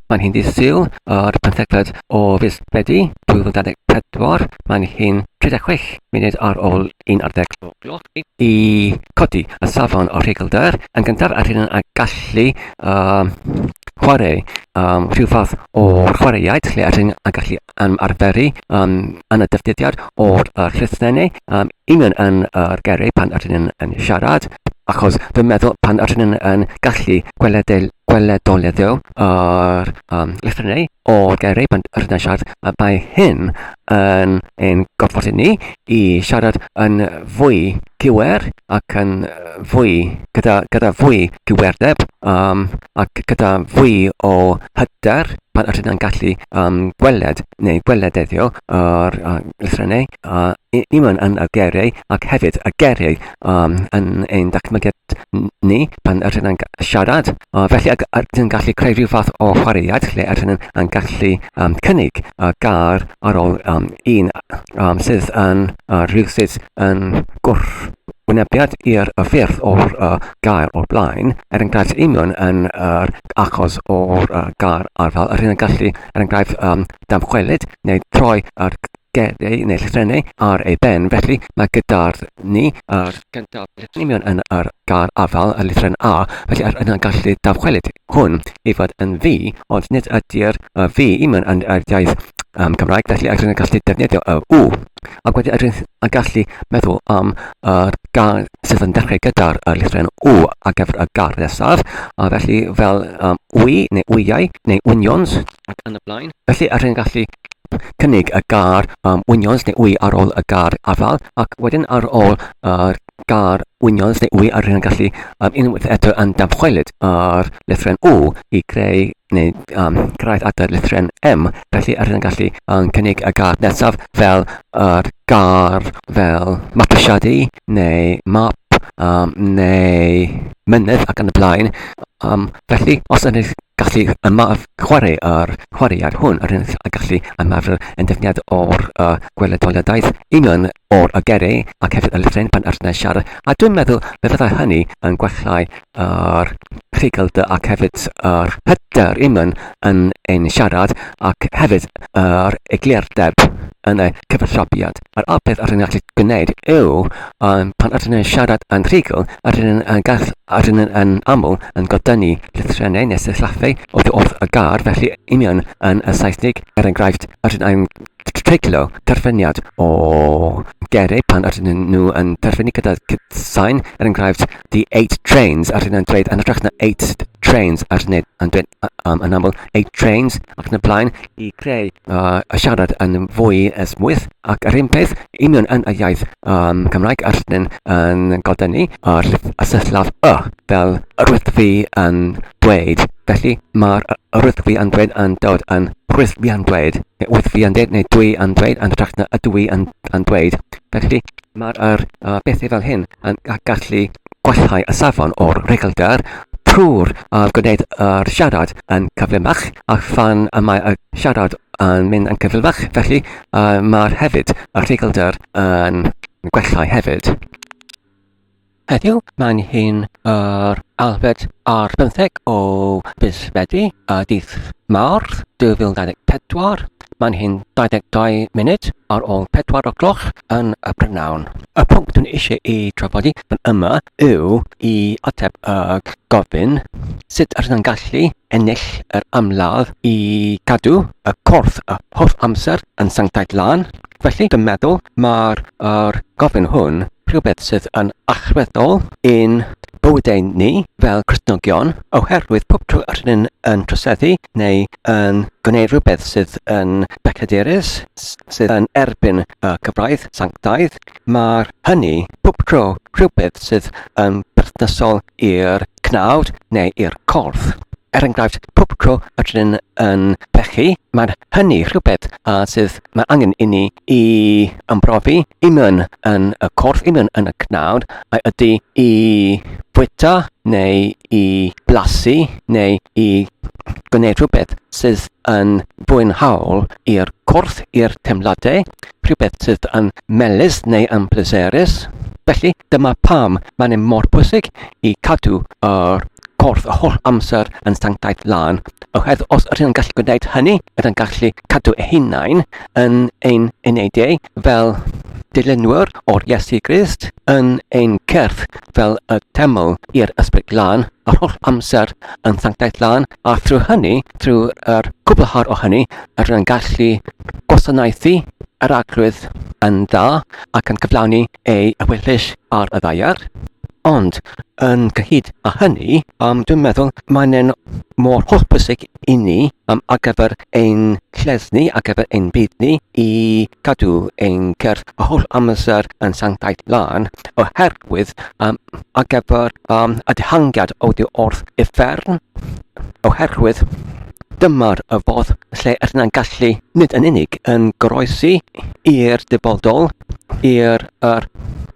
Mae'n hi'n ddydd Sul o'r 15 o fis Medi 2024. Mae'n hi'n 36 munud ar ôl 11 o gloch i codi y safon o rhegelder yn gyntaf ar hyn a gallu um, chwarae um, rhyw fath o chwaraeaid lle ar hyn a gallu um, arferu um, yn y dyfdidiad o'r uh, llysnennau um, Yn yn yn yr geri pan ydyn yn yn siarad achos dwi'n meddwl pan ydyn yn yn gallu gweledol gweledoleddio yr um, lythrennau o'r geri pan ydyn yn siarad a mae hyn yn ein gorfodi ni i siarad yn fwy cywer ac yn fwy gyda, gyda fwy cywerdeb um, ac gyda fwy o hyder pan ydyn yn gallu um, gweled neu gwelededdio yr um, lythrennau uh, Iwan yn y geiriau ac hefyd y geiriau um, yn ein datblygiad ni pan yr hyn yn siarad. Uh, felly ac yr hyn yn gallu creu rhyw fath o chwaraead lle yr hyn yn gallu um, cynnig y gar ar ôl um, un um, sydd yn uh, rhyw sydd yn gwrth wynebiad i'r ffyrdd o'r uh, gair o'r blaen, er enghraifft union yn yr uh, achos o'r uh, gair arfal, yr hyn yn gallu, er enghraifft, um, damchwelyd neu troi yr Gad ei naill rhennu ar ei ben, felly mae gyda'r ni a'r gyntaf rhennion yn yr gair afal y lithren A, felly yr yna gallu dawchwelyd hwn i fod yn fi, ond nid ydy'r y fi iman yn yr iaith um, Cymraeg, felly yr yna gallu defnyddio y u. Ac wedi yr a gallu meddwl am yr gair sydd yn dechrau gyda'r y lithren u ar gyfer y gair nesaf, a felly fel um, wy neu wyau neu unions ac yn y blaen. Felly yr yna gallu cynnig y gair am winwns neu wy ar ôl y gair afael ac wedyn ar ôl yr gair winwns neu wy a rydyn yn gallu um, unwaith eto yn damchwelyd ar lythren O i greu neu um, cyrraedd at y lythren M. Felly rydyn yn gallu um, cynnig y gair nesaf fel yr gair fel mapwysiadu neu map um, neu mynydd ac yn y blaen. Um, Felly, os ydych gallu ymaf chwarae â'r chwaraead hwn, rydych yn gallu ymarfer yn defnyddiad o'r uh, gweledoliadaeth union o'r uh, gerei ac hefyd y lythryn pan ydych yn siarad. A dwi'n meddwl fe fyddai hynny yn gwellhau yr rhugl dy ac hefyd yr hyder union yn ein siarad ac hefyd yr eglurdeb yn y cyfathrebiad. Yr unig beth rydyn ni'n gallu gwneud yw, pan rydyn ni'n siarad yn rhugl, rydyn ni'n yn gall- rydyn ni'n yn aml yn godynnu llythrennau neu sillaffau oddi wrth y gair, felly union yn y Saesnig, er enghraifft, rydyn ni'n treiglo terfyniad o geiriau pan rydyn nhw yn terfynu gyda cytsain, er enghraifft, the eight trains, rydyn ni'n dweud yn hytrach na eight trains, rydyn ni'n dweud yn aml eight trains ac yn y blaen. i greu a siarad yn fwy esmwyth ac yr un peth union yn y iaith um, Cymraeg a rydyn yn godennu ar y syllaf y fel yr wyt fi yn dweud felly mae'r yr wyt fi yn dweud yn dod yn rwyt fi yn dweud neu wyt fi yn dweud neu dwi yn dweud yn hytrach na ydw i yn, yn dweud felly mae'r er, uh, bethau fel hyn yn gallu Gallai y safon o'r rheglgar trwy'r gwneuthur a'r siarad yn gyflymach, a phan y mae y siarad yn mynd yn gyflymach, felly mae'r hefyd, y rheglgar, yn gwella hefyd. Heddiw, mae'n hyn yr Alfed ar bymtheg o fis Medi, y dydd Mawrth, 2024, Mae'n hyn 22 munud ar ôl 4 o gloch yn y prynawn. Y pwnc dwi'n eisiau i trafod i fan yma yw i ateb y gofyn sut rydyn nhw'n gallu ennill yr amladd i gadw y corff y holl amser yn sanctaidd lan. Felly, dwi'n meddwl mae'r gofyn hwn rhywbeth sydd yn allweddol i'n bywydau ni fel Cristnogion oherwydd pob tro yr hyn yn troseddu neu yn gwneud rhywbeth sydd yn becaderus, sydd yn erbyn y cyfraith sanctaidd, mae'r hynny pob tro rhywbeth sydd yn berthnasol i'r cnawd neu i'r corff. Er enghraifft, pob tro yr hyn yn pechu, mae'n hynny rhywbeth a sydd Mae angen inni i ymprofi union yn y corff, union yn y cnawd, a ydy i fwyta neu i blasu neu i gwneud rhywbeth sydd yn fwynhaol i'r corff, i'r teimladau, rhywbeth sydd yn melys neu yn pleserus. Felly, dyma pam mae'n e mor bwysig i cadw yr corff y holl amser yn sanctaidd lân, oherwydd os ydych chi'n gallu gwneud hynny, Byddai'n gallu cadw eu hunain yn ein eneidiau fel dilynwyr o'r Iesu Grist, yn ein cyrff fel y teml i'r Ysbryd Glân, yr holl amser yn sanctaeth lân, a thrwy hynny, trwy'r cwblhar o hynny, yr yn gallu gwasanaethu yr arglwydd yn dda ac yn cyflawni ei ewyllys ar y ddaear, ond yn gyhyd â hynny, um, dwi'n meddwl mae'n mor holl bwysig i ni um, ar gyfer ein lled ni, ar gyfer ein byd ni, i cadw ein cyrff a holl amser yn sanctaidd lan, oherwydd um, ar gyfer um, y dihangiad o di wrth uffern, oherwydd dymor y fodd lle yna'n gallu nid yn unig yn goroesi i'r dyfodol, i'r er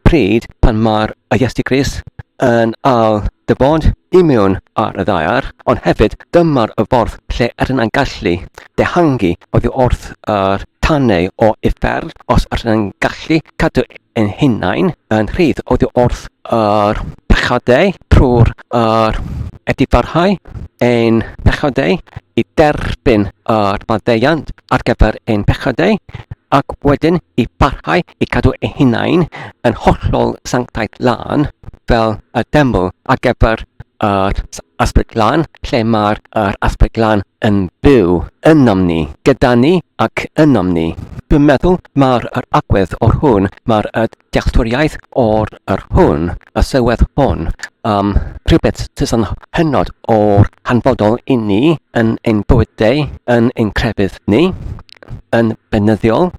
pryd pan mae'r Iesu Grist yn al dyfod i mewn ar y ddaear, ond hefyd dymor y fodd lle yna'n gallu dehangu oddi wrth yr tanau o uffern os yna'n gallu cadw ein hunain yn rhydd oddi wrth yr pechadau trwy'r yr edifarhau ein pechadau i derbyn yr maddeuant ar gyfer ein pechadau ac wedyn i barhau i cadw ei hunain yn hollol sanctaidd lân fel y deml ar gyfer yr asbyd lân lle mae'r yr asbyd lân yn byw ynom ni, gyda ni ac ynom ni. Dwi'n meddwl mae'r yr agwedd o'r hwn, mae'r y dealltwriaeth o'r yr hwn, y sylwedd hwn, um, rhywbeth sydd yn hynod o'r hanfodol i ni yn ein bywydau, yn ein crefydd ni, yn benyddiol,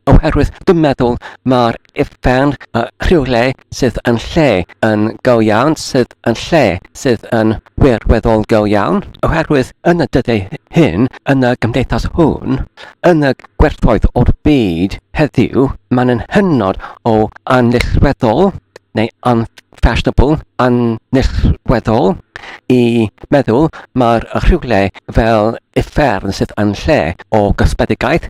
oherwydd dwi'n meddwl mae'r uffern uh, rhywle sydd yn lle yn go iawn sydd yn lle sydd yn wirweddol go iawn, oherwydd yn y dyddiau hyn, yn y gymdeithas hwn, yn y gwerthoedd o'r byd heddiw, mae'n yn hynod o anillweddol neu unfashionable, anillweddol, i meddwl mae'r rhywle fel uffern sydd yn lle o gosbedigaeth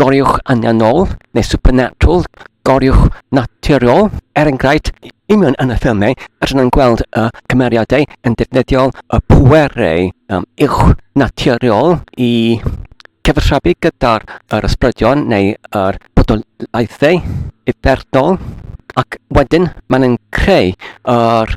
goriwch annianol neu supernatural, goriwch naturiol. Er enghraifft, union yn y ffilmiau, rydyn nhw'n gweld y cymeriadau yn defnyddio y pwerau um, uwch naturiol i cyfathrebu gyda'r yr ysbrydion neu yr bodolaethau uffernol ac wedyn maen nhw'n creu yr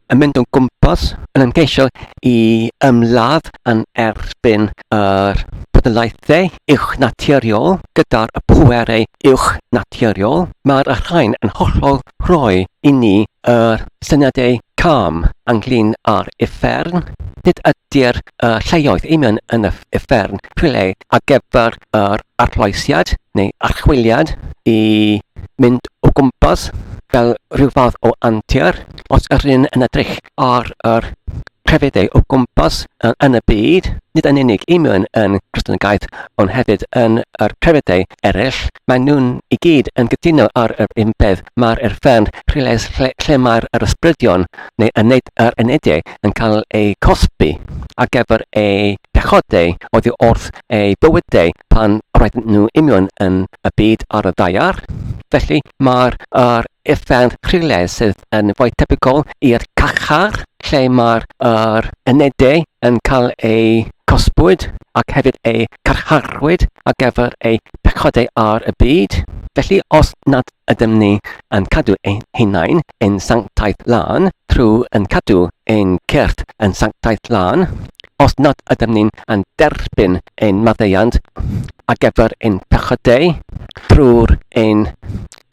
yn mynd o'n gwmpas yn ymgeisio i ymladd yn erbyn yr pwdelaethau uwchnaturiol gyda'r pwerau uwchnaturiol, mae'r rhain yn hollol rhoi i ni yr syniadau cam ynglyn â'r uffern. Nid ydy'r uh, lleoedd union yn y uffern rhywle ar gyfer yr arloesiad neu archwiliad i mynd o gwmpas fel rhyw fath o antur. os yr un yn edrych ar yr crefyddau o gwmpas yn y byd, nid yn unig i mewn yn Christiangaeth, ond hefyd yn yr crefyddau eraill, maen nhw'n i gyd yn gytuno ar yr un peth, mae'r erfern rhylais lle, lle mae'r yr ysbrydion neu yned, yr enediau yn cael eu cosbi ar gyfer eu pechodau oddi wrth eu bywydau pan roedden nhw union yn y byd ar y ddaear. Felly mae'r yr Effaith rhywle sydd yn fwy tebygol i'r carchar lle mae'r er unedau yn cael eu cosbwyd ac hefyd eu carcharwyd ar gyfer eu pechodau ar y byd. Felly, os nad ydym ni yn cadw ein hunain yn sanctaidd lân trwy yn cadw ein cyrff yn sanctaidd lân, os nad ydym ni'n yn derbyn ein maddeuant ar gyfer ein pechodau drwy'r ein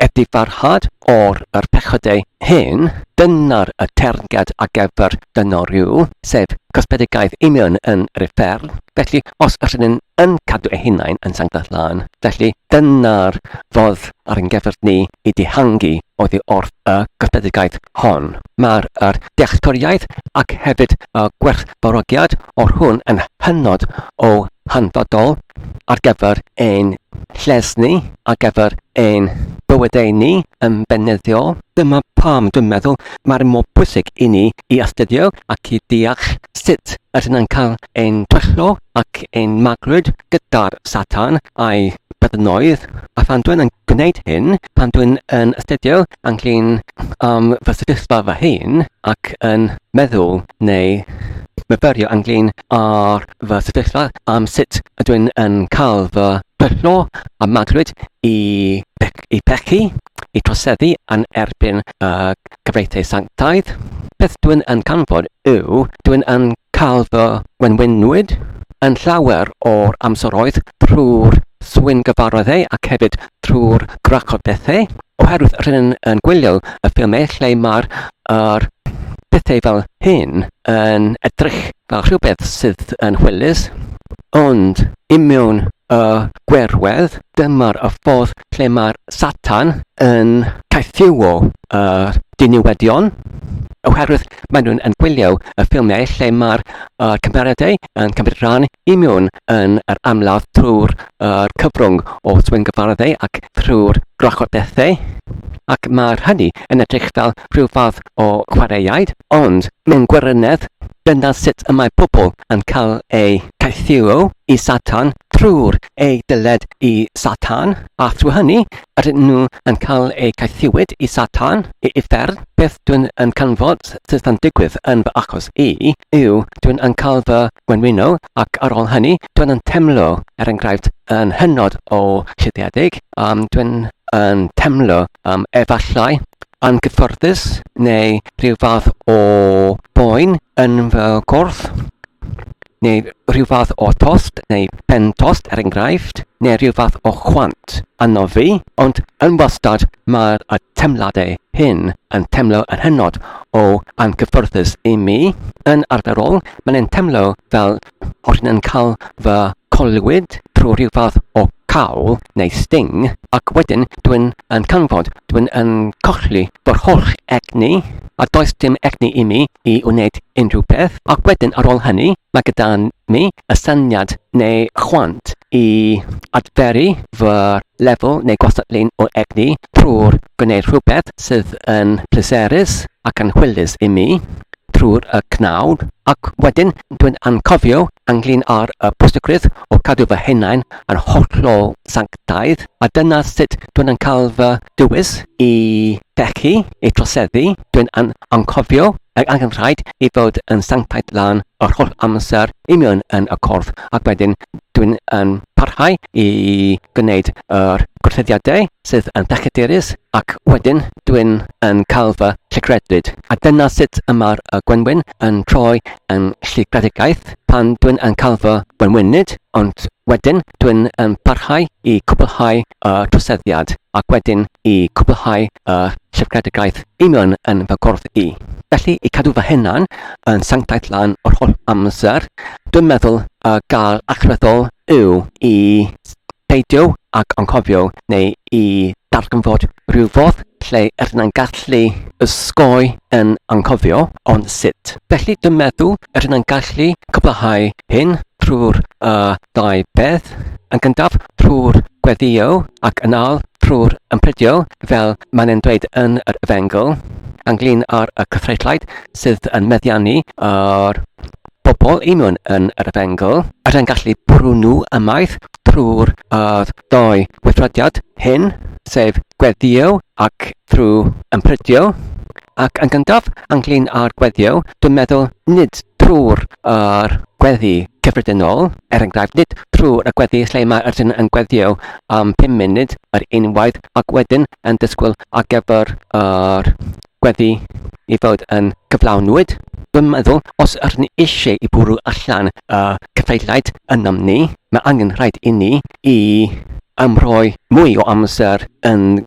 Edifarhad o'r yr pechodau hyn, dyna'r y teyrnged a gefr dynno rhyw, sef cosbedigaeth union yn yr uffern, felly os yr ydyn yn cadw eu hunain yn sanctaidd lân, felly dyna'r fodd ar yn gefr ni i dihangu oddi wrth y cosbedigaeth hon. Mae'r yr dealltwriaeth ac hefyd y gwerthfawrogiad o'r hwn yn hynod o hanfodol ar gefr ein lles ni, ar gyfer ein bywydau ni yn benydiol. Dyma pam dwi'n meddwl mai'n mor bwysig i ni i astudio ac i ddeall sut ydyn ni'n cael ein twyllo ac ein maglwyd gyda'r Satan a'i byddinoedd, a phan dwi'n yn gwneud hyn, pan dwi'n yn astudio ynglyn am fy sefyllfa fy hun ac yn meddwl neu myfyrio ynglyn ar fy sefyllfa am sut ydw i'n yn cael fy pyrtho a magwraeth i bech- i pechu, i troseddu yn erbyn y cyfreithiau sanctaidd. Beth dw i'n yn canfod yw, dw i'n yn cael fy wenwynwyd yn llawer o'r amseroedd trwy'r swyn gyfarwyddau ac hefyd trwy'r grac o bethau, oherwydd rydyn yn gwylio y ffilmau lle mae'r er, pethau fel hyn. yn edrych fel rhywbeth sydd yn hwylus, ond i mewn y gwerwedd, dyma'r y ffordd lle mae'r Satan yn caethiwo y diniwedion, oherwydd maen nhw'n yn gwylio y ffilmiau lle mae'r uh, cymeriadau yn cymryd rhan i mewn yn yr amlaf trwy'r uh, cyfrwng o swyngyfarddau ac trwy'r gwrachod bethau. Ac mae'r hynny yn edrych fel rhyw fath o chwaraeaid, ond mewn gwirionedd, dyna sut y mae pobl yn cael eu caethiwo i Satan trwy'r eu dyled i Satan, a thrwy hynny, ydyn nhw yn cael eu caethiwyd i Satan, i uffern. Beth dwi'n yn canfod sydd yn digwydd yn fy achos i yw dwi'n yn cael fy ngwenwyno ac ar ôl hynny dwi'n yn temlo, er enghraifft, yn hynod o llidiedig, um, dwi'n yn temlo um, efallai anghyfforddus neu rhyw fath o boen yn fy gorff, neu rhyw fath o tost neu pen tost er enghraifft, neu rhyw fath o chwant yno fi, ond yn wastad mae'r y temladau hyn yn temlo yn hynod o anghyfforddus i mi. Yn arferol, mae'n yn temlo fel Os ydyn yn cael fy collwyd trwy rhyw fath o cawl neu sting, ac wedyn dw i'n yn canfod dw i'n yn colli fy holl egni, a does dim egni i mi i wneud unrhyw beth, ac wedyn ar ôl hynny, mae gyda mi y syniad neu chwant i adferu fy lefel neu gwastatlun o egni trwy'r gwneud rhywbeth sydd yn pleserus ac anhwylus i mi trwy'r y cnawd ac wedyn dwi'n anghofio anglyn ar y pwysigrwydd o cadw fy hunain yn hollol sanctaidd a dyna sut dwi'n yn cael fy dywys i dechu, i troseddu, dwi'n yn anghofio Ac angen rhaid i fod yn sanctaidd lan yr holl amser i mewn yn y corff ac wedyn dwi'n yn parhau i gwneud yr gorchuddiadau sydd yn ddechadurus ac wedyn dwi'n yn cael fy llygrediwyd. A dyna sut y mae'r y gwenwyn yn troi yn llygredigaeth pan dwi'n yn cael fy gwenwynyd, ond wedyn dwi'n yn parhau i cwblhau y troseddiad ac wedyn i cwblhau y Trefgedigaeth union yn fy gorff i. Felly, i cadw fy hunan yn sanctaidd lan yr holl amser, dwi'n meddwl y gair allweddol yw i beidio ag anghofio neu i ddarganfod rhyw fodd lle rydyn ni'n gallu ysgoi yn anghofio, ond sut? Felly, dwi'n meddwl rydyn ni'n gallu cwblhau hyn trwy'r uh, ddau beth. Yn gyntaf, trwy'r gweddïo ac yn âl trwy'r ympridio, fel mae'n yn dweud yn yr Efengyl, ynglyn ar y cythreithlaid sydd yn meddiannu ar bobl union yn yr Efengyl, er yn gallu bwrw nhw ymaith trwy'r uh, doi weithrediad hyn, sef gweddïo ac Trwy ymprydio ac yn gyntaf ynglŷn â'r gweddio, dwi'n meddwl, nid trwy'r yr gweddi cyffredinol, er enghraifft, nid trwy'r y gweddi lle mae yr un yn gweddio am pum munud yr unwaith ac wedyn yn disgwyl ar gyfer yr gweddi i fod yn cyflawnwyd, dwi'n meddwl, os rŷn ni eisiau i bwrw allan y cyfeiriaid ynom ni, mae angen rhaid inni i ymroi mwy o amser yn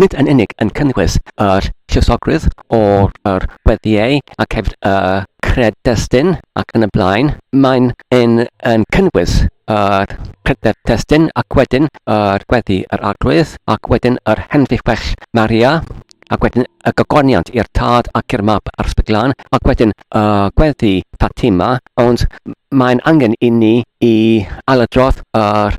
nid yn unig yn cynnwys yr llusogrwydd o'r yr weddiau ac hefyd y cred-destun ac yn y blaen, mae'n yn, yn cynnwys yr cred-destun ac wedyn yr gweddi yr arglwydd ac wedyn yr henfifell Maria ac wedyn y gogoniant i'r tad ac i'r mab a'r ysbryd glân, ac wedyn y uh, gweddi Fatima, ond mae'n angen i ni i ailadrodd yr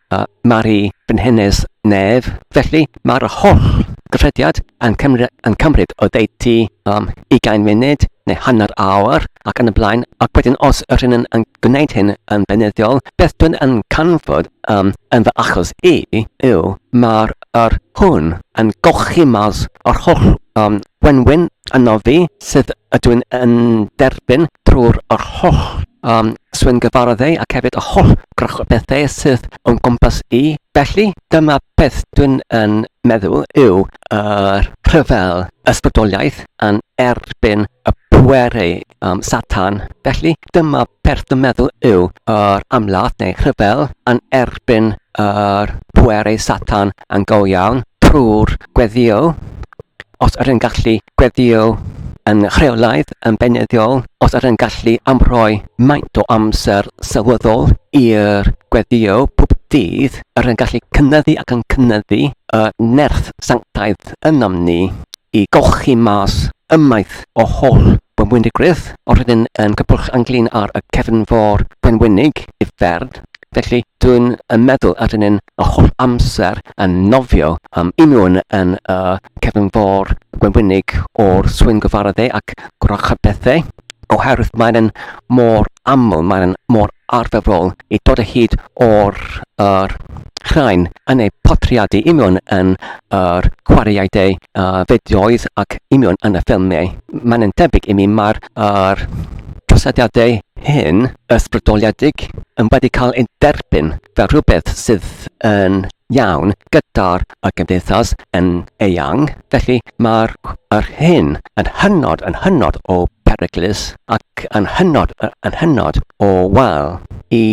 a Mari Brenhines Nedd. Felly, mae'r holl gyffrediad yn cymryd o ddeud ti am ugain munud neu hanner awr ac yn y blaen, ac wedyn os yr hyn yn gwneud hyn yn beunyddiol, beth dwi'n yn canfod um, yn fy achos i yw mae'r yr hwn yn golchi mas yr holl um, Gwenwyn ynof fi sydd ydw i'n yn derbyn drwy'r yr holl um, swyngyfarddau ac hefyd y holl grwch bethau sydd o'n gwmpas i. Felly, dyma beth dwi'n yn meddwl yw yr rhyfel ysbrydoliaeth yn erbyn y pwerau um, satan. Felly, dyma beth dwi'n meddwl yw yr amlath neu rhyfel yn erbyn yr pwerau satan yn go iawn trwy'r gweddio os yr yn gallu gweddïo yn rheolaidd yn beunyddiol, os yr yn gallu amrhoi maint o amser sylweddol i'r gweddïo pob dydd, yr yn gallu cynyddu ac yn cynyddu y nerth sanctaidd ynom ni i golchi mas ymaith o holl wenwynigrwydd, o'r rydyn yn cybwll anghlin ar y cefnfor wenwynig i fferm, Felly, dwi'n yn meddwl a dyn ni'n y holl amser yn nofio am un nhw'n yn y cefn fôr gwenwynig o'r swyn gyfaradde ac gwrachod bethau, oherwydd mae'n mor aml, mae'n mor arferol i dod o hyd o'r er, rhain yn eu portreadu union yn yr chwaraeadau uh, fideoedd ac union yn y ffilmiau. Mae'n debyg i mi mae'r er, trosediadau hyn ysbrydoliedig yn wedi cael ei derbyn fel rhywbeth sydd yn iawn gyda'r y gymdeithas yn eang. Felly mae'r yr hyn yn hynod yn hynod o beryglus ac yn hynod yn hynod o wael i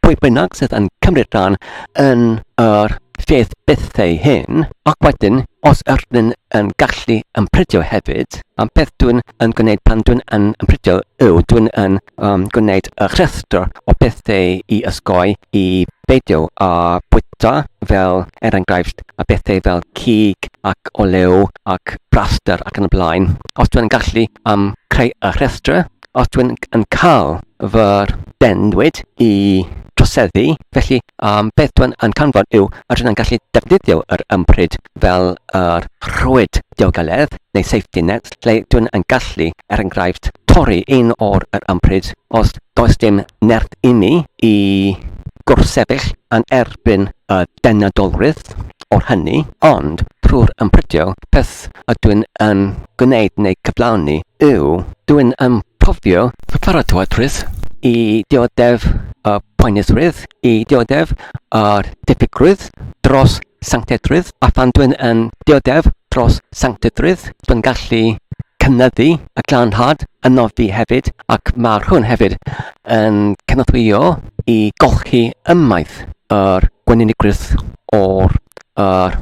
pwy bynnag sydd yn cymryd rhan yn yr Lled bethau hyn, ac wedyn, os ydyn yn gallu ymprydio hefyd, y peth dwi'n yn gwneud pan dwi'n yn ymprydio yw dwi'n yn um, gwneud y rhestr o bethau i ysgoi i beidio â bwyta fel er enghraifft y bethau fel cig ac olew ac braster ac yn y blaen. Os dwi'n gallu um, creu y rhestr os dwi'n yn cael fy dendwyd i troseddu, felly um, beth dwi'n yn canfod yw a dwi'n yn gallu defnyddio yr ympryd fel yr rhwyd diogeledd neu safety net lle dwi'n yn gallu, er enghraifft, torri un o'r yr ympryd os does dim nerth inni i gwrsefyll yn erbyn y denadolrwydd o'r hynny, ond trwy'r ymprydio peth beth ydw i'n yn gwneud neu gyflawni yw, dw i'n anghofio fy pharatowydrwydd i ddioddef y poenusrwydd, i ddioddef yr diffygrwydd dros sanctedrwydd, a phan dw i'n yn ddioddef dros sanctedrwydd, dw i'n gallu cynyddu y glanhad ynof fi hefyd, ac mae rhywun hefyd yn cynorthwyo i golchi ymaith yr gwenynigwrwydd o'r yr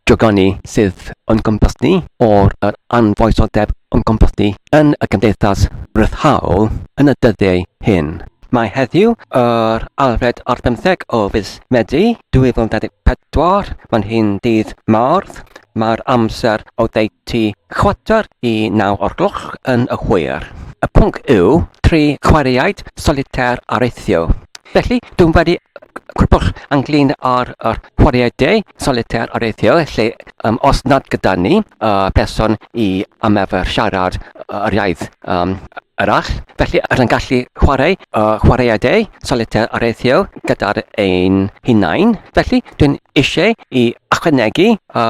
dragonni sydd o'n gwmpas ni, o'r yr anfoesodeb o'n gwmpas ni yn y gymdeithas ryddhaol yn y dyddiau hyn. Mae heddiw, yr Alfred ar bymtheg o fis Medi 2024, mae'n hyn dydd Mawrth, mae'r amser oddeutu chwarter i naw o'r gloch yn y hwyr. Y pwnc yw tri chwaraeaid solitaire areithio. Felly, dwi'n wedi cwpwch ynglyn â'r chwaraeaidau solitaire areithio, lle um, os nad gyda ni uh, person i ymarfer siarad yr iaith um, arall, felly rydyn gallu chwarae uh, chwaraeaidau solitaire areithio gyda'r ein hunain. Felly, dwi'n eisiau i ychwanegu a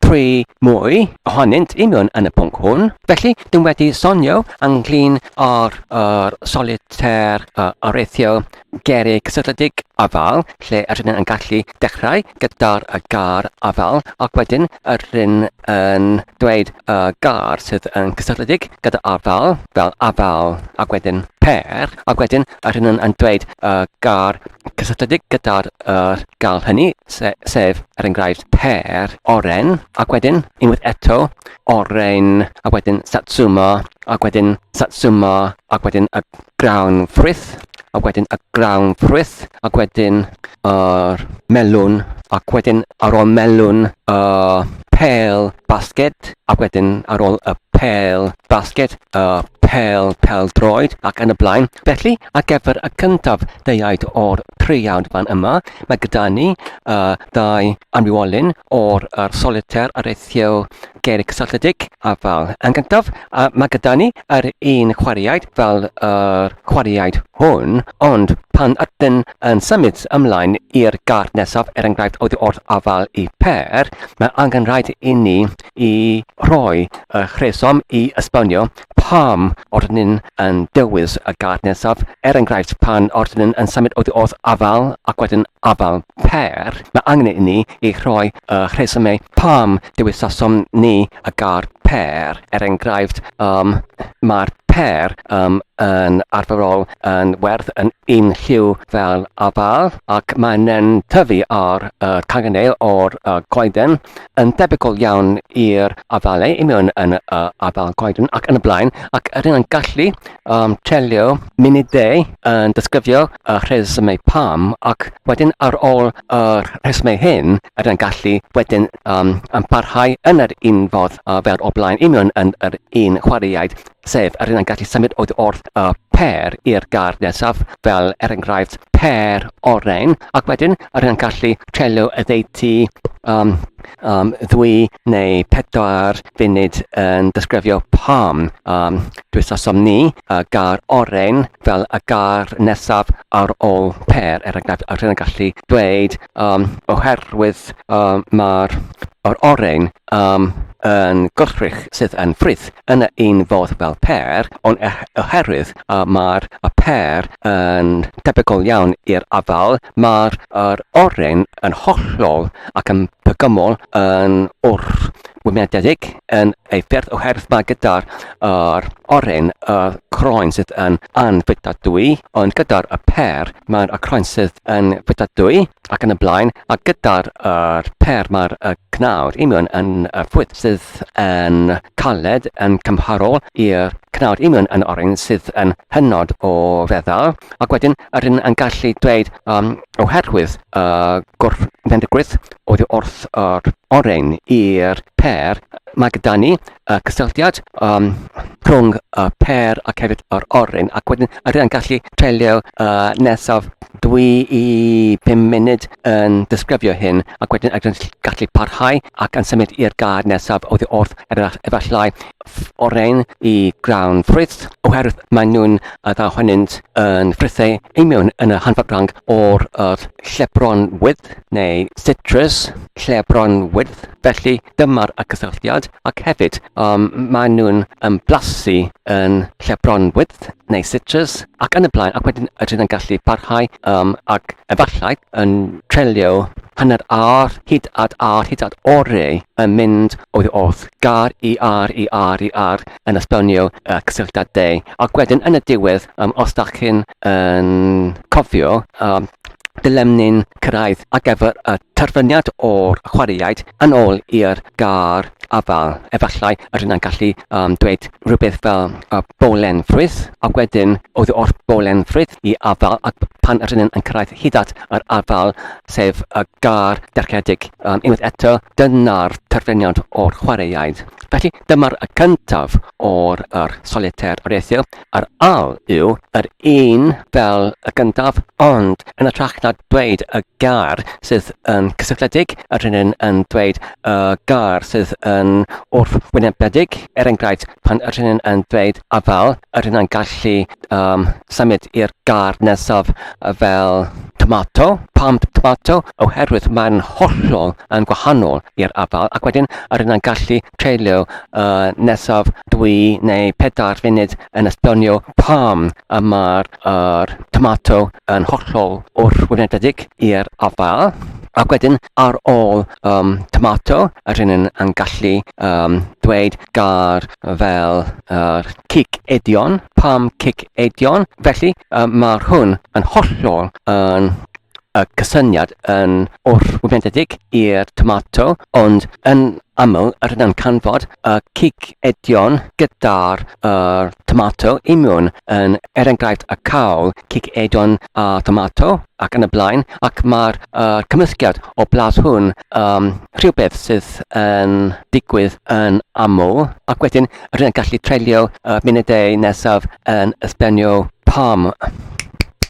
thrwy mwy ohonynt i mewn yn y pwnc hwn. Felly, dwi'n wedi sonio ynglyn â'r er, solitaire uh, areithio gerig cysylltiedig afael, lle yr hyn yn gallu dechrau gyda'r y gar afael, ac wedyn yr hyn yn dweud y gar sydd yn cysylltiedig gyda afael, fel afael, ac wedyn per, ac wedyn a rhywun yn, yn dweud uh, gar cysylltiedig gyda'r uh, gal hynny, se, sef, er enghraifft, per, oren, ac wedyn, unwaith eto, oren, a wedyn satsuma, ac wedyn satsuma, ac wedyn y grawn ffrwyth, a wedyn y grawn ffrwyth, ac wedyn yr uh, melwn, ac wedyn ar ôl melwn, uh, pel basged, ac wedyn ar ôl y pel basged, y pel pel-droed ac yn y blaen. Felly, ar gyfer y cyntaf deuaid o'r treiawd fan yma, mae gyda ni uh, ddau anwywolyn o'r uh, solitaire ar eithio gerig cysylltiedig a fel yn gyntaf, uh, mae gyda ni yr un chwaraeaid fel yr uh, chwaraeaid hwn, ond pan ydyn yn symud ymlaen i'r gart nesaf, er enghraifft, oddi wrth afael i per, mae angen rhaid i ni i roi eich rheswm i esbonio pam o'r nhw'n yn dewis y gad nesaf, er enghraifft pan o'r nhw'n yn symud oddi wrth afael ac wedyn afael pêr, mae angen i ni i roi y rhesymau pam dewisasom ni y gad pêr, er enghraifft um, mae'r pêr um, yn arferol yn werth yn un lliw fel afael ac mae'n tyfu ar y cangenau o'r uh, goeden yn debygol iawn i'r afalau i mewn yn y uh, afal coeden ac yn y blaen, ac yr hynna'n gallu um, trelio munudau yn disgrifio y rhesymau pam, ac wedyn ar ôl y rhesymau hyn, yr hynna'n gallu wedyn um, yn parhau yn yr un fodd uh, fel o blaen i mewn yn yr un chwaraeaid sef yr un yn gallu symud oddi wrth y pêr i'r gar nesaf, fel er enghraifft pêr oren, ac wedyn yr un yn gallu trelio y ddeiti um, um, ddwy neu pedwar funud yn disgrifio pam um, dwysosom ni y gar oren fel y gar nesaf ar ôl pêr, er enghraifft yr un yn gallu dweud um, oherwydd um, mae'r oren Am yn gwrthrych sydd yn frith yn un fodd fel pêr, ond oherwydd y mae'r pêr yn debygol iawn i'r afael, mae'r yr oren yn hollol ac yn bygymol yn wrthwynebyddedig yn ei ffyrdd oherwydd mae gyda'r yr oren y croen sydd yn anfwytadwy, ond gyda'r y pêr mae'n y croen sydd yn fwytadwy. ac yn y blaen, a gyda'r er per mae'r y cnawd union yn y ffwyd sydd yn caled yn cymharol i'r cnawd union yn oren sydd yn hynod o feddal, ac wedyn yr un yn gallu dweud um, oherwydd y uh, gwrthfendigrwydd oddi wrth yr oren i'r per, mae gyda ni uh, cysylltiad um, rhwng y uh, per ac hefyd yr oren ac wedyn yr yn gallu treulio uh, nesaf dwi i 5 munud yn disgrifio hyn ac wedyn ac yn gallu parhau ac yn symud i'r gad nesaf oedd i wrth er efallai oren i grawn ffrwyth oherwydd maen nhw'n uh, dda honynt yn ffrithau ei mewn yn y hanfodranc o'r uh, llebron wydd neu citrus llebron wydd felly dyma'r y cysylltiad, ac hefyd um, maen nhw'n um, blasu yn lle bronwydd neu citrus ac yn y blaen, ac wedyn ydyn yn gallu parhau um, ac efallai yn trelio hanner ar, hyd at ar, hyd at orau yn mynd o'i wrth gar i ar, i ar, i ar yn esbonio y cysylltiadau. Ac wedyn yn y diwedd, um, os da chi'n yn cofio, um, Dylem ni'n cyrraedd ar gyfer y terfyniad o'r chwaraeaid yn ôl i'r gar afael. Efallai yr yna'n gallu um, dweud rhywbeth fel y bolen ffrwyth, a wedyn oedd o'r bolen ffrwyth i afael, ac pan yr yna'n cyrraedd hyd at yr afael, sef y gar derchedig um, unwaith eto, dyna'r terfyniad o'r chwaraeaid. Felly dyma'r cyntaf o'r er solitaire o'r ethyl, Yr ail yw yr un fel y gyntaf, ond yn ytrach na dweud y gair sydd yn cysylltiedig, yr rhennyn yn dweud y gair sydd yn wrthwynebedig. Er enghraifft, pan yr rhennyn yn dweud afael, yr hynna'n gallu um, symud i'r gair nesaf fel tomato. Pam tomato? Oherwydd mae'n hollol yn gwahanol i'r afael ac wedyn yr hyn yn gallu treulio y nesaf dwy neu pedair funud yn esbonio pam y mae'r er, tomato yn hollol wrthwynedig i'r afael ac wedyn ar ôl um, tomato yr hyn yn, yn gallu um, dweud gair fel er, cic edion, pam cic edion, felly um, mae'r hwn yn hollol yn y cysyniad yn orwyfenedig i'r tomato, ond yn aml yr yna'n canfod y cig edion gyda'r er, tomato imiwn yn er enghraifft y cawl, cig edion a tomato ac yn y blaen, ac mae'r er, cymysgiad o blas hwn um, rhywbeth sydd yn digwydd yn aml, ac wedyn rydyn yn gallu treulio y munudau nesaf yn ysblenio pam.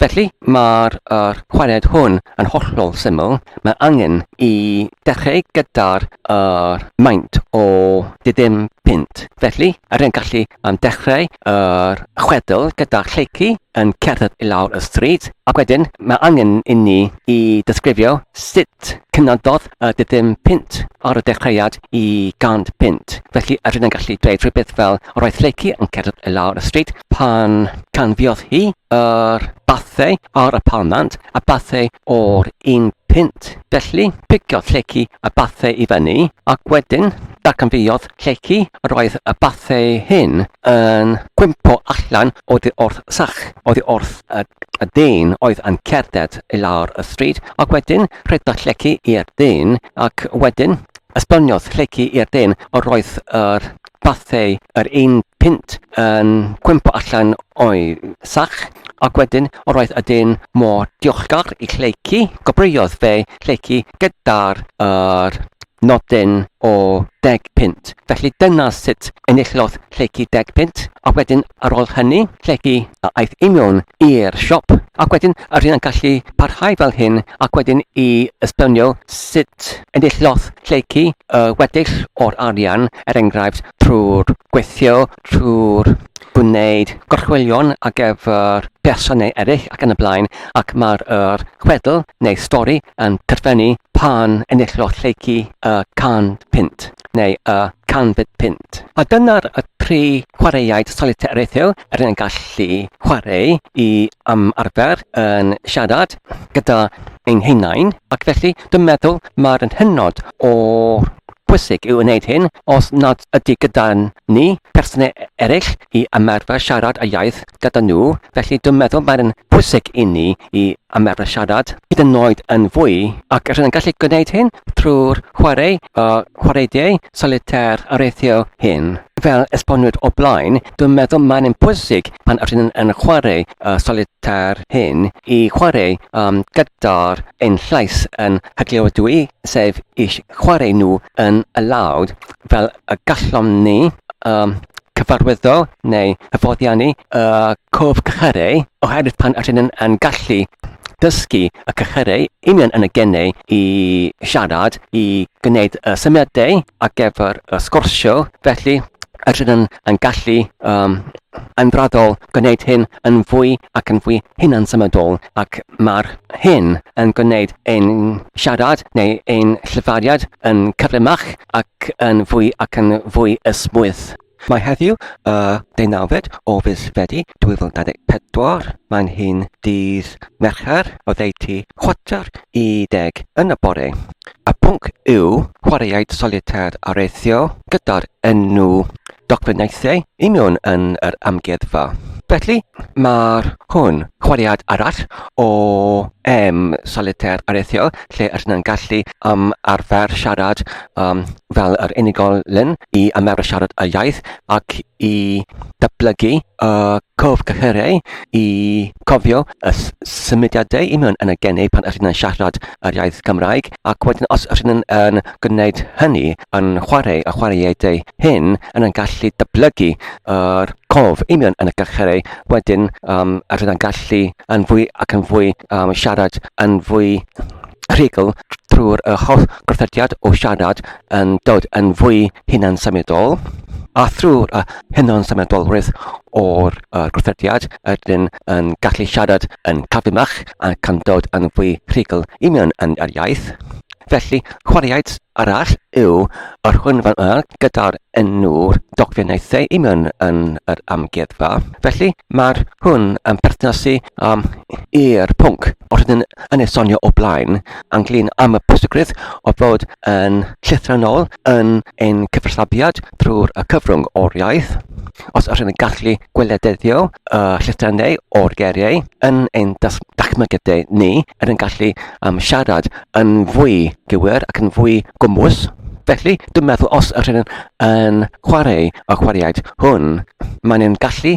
Felly, mae'r er cwared hwn yn hollol syml. Mae angen i dechrau gyda'r er maint o ddim pint. Felly, yr yn gallu am dechrau yr chwedl gyda lleici yn cerdded i lawr y stryd, ac wedyn mae angen inni i ddisgrifio sut cynadodd a dydym punt ar y dechreuad i gant punt. Felly ydyn yn gallu dweud rhywbeth fel roedd Lleucu yn cerdded i lawr y stryd pan canfiodd hi yr bathau ar y palmant a bathau o'r un pint. Felly, piciodd Lleucu y bathau i fyny ac wedyn darcanfiodd Lleucu yr oedd y bathau hyn yn gwympo allan oddi wrth sach, oddi wrth y, y dyn oedd yn cerdded i lawr y stryd Ac wedyn rheddodd lleci i'r dyn, ac wedyn esboniodd lleci i'r dyn yr oedd yr fathau yr un pint yn cwympo allan o'i sach, ac wedyn yr oedd y dyn mor diolchgar i lleci, gobrwyodd fe lleci gyda'r yr nodyn o deg pint. Felly dyna sut enillodd llety deg punt, a wedyn ar ôl hynny, llety a aeth i mewn i'r siop, ac wedyn yr hyn yn gallu parhau fel hyn, ac wedyn i esbonio sut enillodd llety y weddill o'r arian, er enghraifft, trwy'r gweithio, trwy'r gwneud gorchwylion ar gyfer person neu eraill ac yn y blaen, ac mae'r er, chwedl neu stori yn terfynu pan enillodd llety y 100 punt. neu y canfyd punt. A dyna'r y tri chwaraeaid solitaire rethil yr yn gallu chwarae i am arfer yn siarad gyda ein hunain, ac felly dwi'n meddwl mae'r yn hynod o bwysig i'w wneud hyn os nad ydy gyda ni person eraill i ymarfer siarad y iaith gyda nhw, felly dwi'n meddwl mae'n yn bwysig inni i ymarfer siarad hyd yn oed yn fwy, ac rydyn yn gallu gwneud hyn trwy'r chwarae y chwaraediau solitaire areithio hyn. Fel esbonwyd o blaen, dwi'n meddwl mae'n yn bwysig pan rydyn yn chwarae y solitaire hyn i chwarae um, gyda'r ein llais yn hygliodwy, sef i chwarae nhw yn y lawd, fel y gallom ni um, cyfarwyddo neu hyfoddiannu y cof cychyrau oherwydd pan ydyn nhw'n yn gallu dysgu y cychyrau union yn y gennau i siarad, i gwneud y symiadau ar gyfer y sgorsio, felly ydyn nhw'n yn gallu um, yn braddol gwneud hyn yn fwy ac yn fwy hunan symudol ac mae'r hyn yn gwneud ein siarad neu ein llyfariad yn cyflymach ac yn fwy ac yn fwy ysmwyth. Mae heddiw, y deunawfed o fis Fedi 2024, mae'n hyn dydd Mercher oddeutu chwarter i deg yn y bore. Y pwnc yw chwaraeaid solitaire areithio gyda'r enw dogfennaethau union yn yr amgueddfa. Felly, mae'r hwn chwaraead arall o em solitaire areithio lle yr yna'n gallu am arfer siarad um, fel yr unigolyn i ymarfer siarad y iaith ac i datblygu y cof cyhyrau i cofio y symudiadau i mewn yn y geni pan ydych chi'n siarad yr iaith Cymraeg ac wedyn os ydych chi'n yn gwneud hynny yn chwarae y chwaraeadau hyn yn yn gallu datblygu yr cof i mewn yn y cychyrau wedyn um, ydych chi'n gallu yn fwy ac yn fwy um, siarad yn fwy rhugl trwy'r holl gorthrediad o siarad yn dod yn fwy hunan-symudol a thrwy'r hunan-symudolrwydd o'r gorthrediad ydyn yn gallu siarad yn cadwymach ac yn dod yn fwy rhugl i mewn yn yr iaith. Felly, chwaraeaid arall yw yr hwn fan yma gyda'r enw'r dogfennaethau i mewn yn yr amgueddfa. Felly, mae'r hwn yn perthnasu um, i'r pwnc. Os ydyn yn ei sonio o blaen, anglyn am y pwysigrwydd o fod yn llythrennol yn ein cyfathrebiad drwy'r y cyfrwng o'r iaith, os ydyn yn gallu gwelededdio y llythrennau o'r geriau yn ein dachmygedau ni, er yn gallu um, siarad yn fwy gywir ac yn fwy gwmwys, Felly, dwi'n meddwl os ydyn yn chwarae y chwaraeaid hwn, maen nhw'n gallu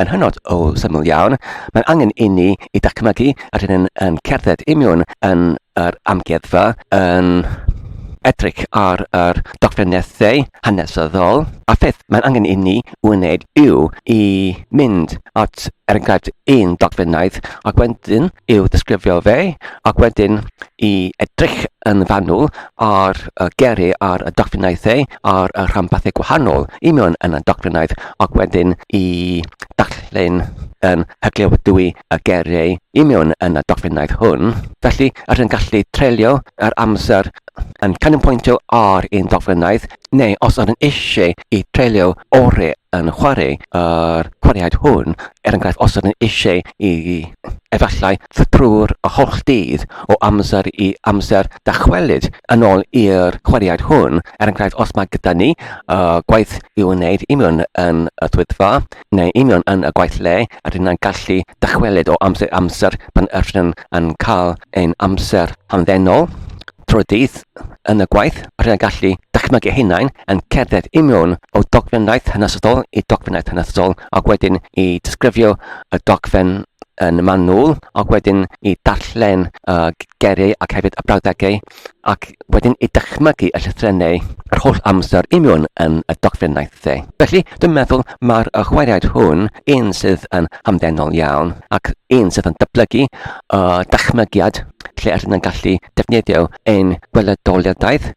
yn hynod o syml iawn. Mae'n angen i ni i dacmygu a dyn yn cerdded i miwn yn yr amgueddfa, yn edrych ar yr dogfennaethau hanesyddol, a pheth mae'n angen i ni wneud yw i mynd at, er enghraifft, un dogfennaeth ac wedyn i'w ddisgrifio fe, ac wedyn i edrych yn fanwl ar y geri ar y docfrinaethau ar y rhanbarthau gwahanol i mewn yn y docfrinaeth, ac wedyn i ddarllen yn hyglewydwy y geri i mewn yn y docfrinaeth hwn. Felly, rydyn ni'n gallu treulio yr amser yn canolbwyntio ar un docfrinaeth neu os ydyn eisiau i treulio ore yn chwarae yr chwaraead hwn, er enghraifft os ydyn eisiau i efallai trwy'r holl dydd o amser i amser dychwelyd yn ôl i'r chwaraead hwn, er enghraifft os mae gyda ni uh, gwaith i wneud union yn y swyddfa neu union yn y gwaith le, rydyn ni'n gallu dychwelyd o amser i amser pan ydyn yn cael ein amser hamddenol trwy dydd. yn y gwaith, rhaid y gallu dychmygu hunain yn cerdded i mewn o dogfennaeth hanesyddol i dogfennaeth hanesyddol ac wedyn i disgrifio y dogfen yn manwl ac wedyn i darllen y geriau ac hefyd y brawddegau ac wedyn i dychmygu y llythrennau yr holl amser i mewn yn y dogfennaeth dde. Felly, dwi'n meddwl mae'r chwaraead hwn un sydd yn hamddenol iawn ac un sydd yn dyblygu y dychmygiad lle yr yna'n gallu defnyddio ein gweledoliadaeth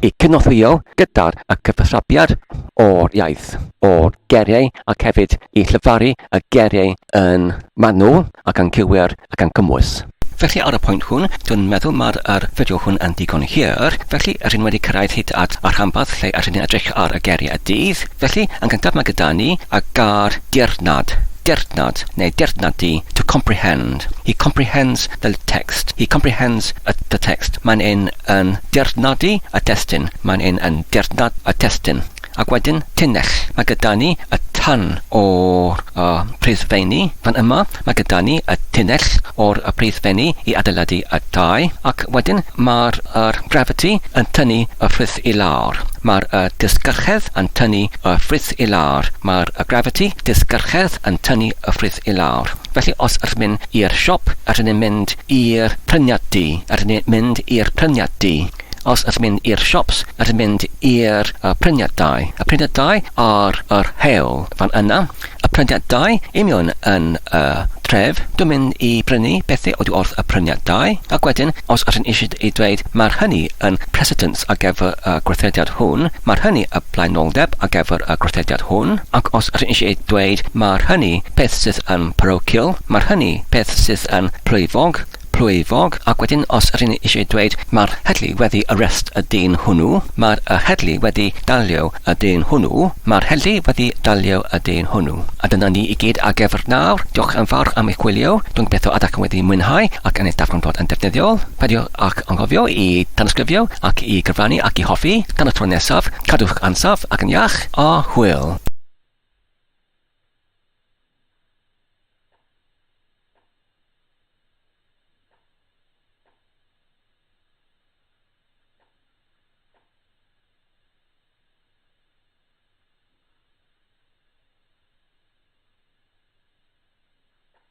i cynorthwyo gyda'r y cyfathrabiad o'r iaith, o'r geriau ac hefyd i llyfaru y geriau yn manwl ac yn cywir ac yn cymwys. Felly ar y pwynt hwn, dwi'n meddwl mae'r yr fideo hwn yn ddigon hir, felly rydyn ni wedi cyrraedd hyd at y rhanbarth lle rydyn ni'n edrych ar y geriau y dydd. Felly, yn gyntaf mae gyda ni y gair dirnad, dirnad neu dirnad di, to comprehend. He comprehends Fel text, he comprehends y the text, mae'n yn yn dirnodi y testun, mae'n yn yn dirnod y testun. Ac wedyn, tunnell, mae gyda ni y tun o'r y pridfeini, fan yma, mae gyda ni y tunnell o'r y pridfeini i adeiladu y tai, ac wedyn mae'r yr gravity yn tynnu y frith i lawr, mae'r y disgyrchedd yn tynnu y frith i lawr, mae'r y gravity, disgyrchedd, yn tynnu y frith i lawr. Felly os r'myn i'r siop a rydyn mynd i'r pryniad du a rydyn mynd i'r pryniad du os ydyn mynd i'r siops a rydyn mynd i'r y pryniad dau y pryniad dau ar yr hewl fan yna y pryniad dau imiwn yn y tref dwi'n mynd i brynu bethau oddi wrth y pryniad dau ac wedyn os ydyn eisiau i dweud mae'r hynny yn precedent ar gyfer y gweithrediad hwn, mae'r hynny y blaenoldeb ar gyfer y gweithrediad hwn, ac os rŷn eisiau dweud mae'r hynny peth sydd yn parochial, mae'r hynny peth sydd yn plwyfog, plwyfog, ac wedyn os rŷn eisiau dweud mae'r heddlu wedi arrest y dyn hwnnw, mae'r y heddlu wedi dalio y dyn hwnnw, mae'r heddlu wedi dalio y dyn hwnnw. A dyna ni i gyd ar gyfer nawr. Diolch yn fawr am eich gwylio. Dwi'n gobeithio y dach chi wedi mwynhau ac yn eich darganfod yn defnyddiol. Peidiwch â ac anghofio i danysgrifio ac i gyfrannu ac i hoffi, tan y tro nesaf, cadwch ansawdd ac yn iach, a hwyl!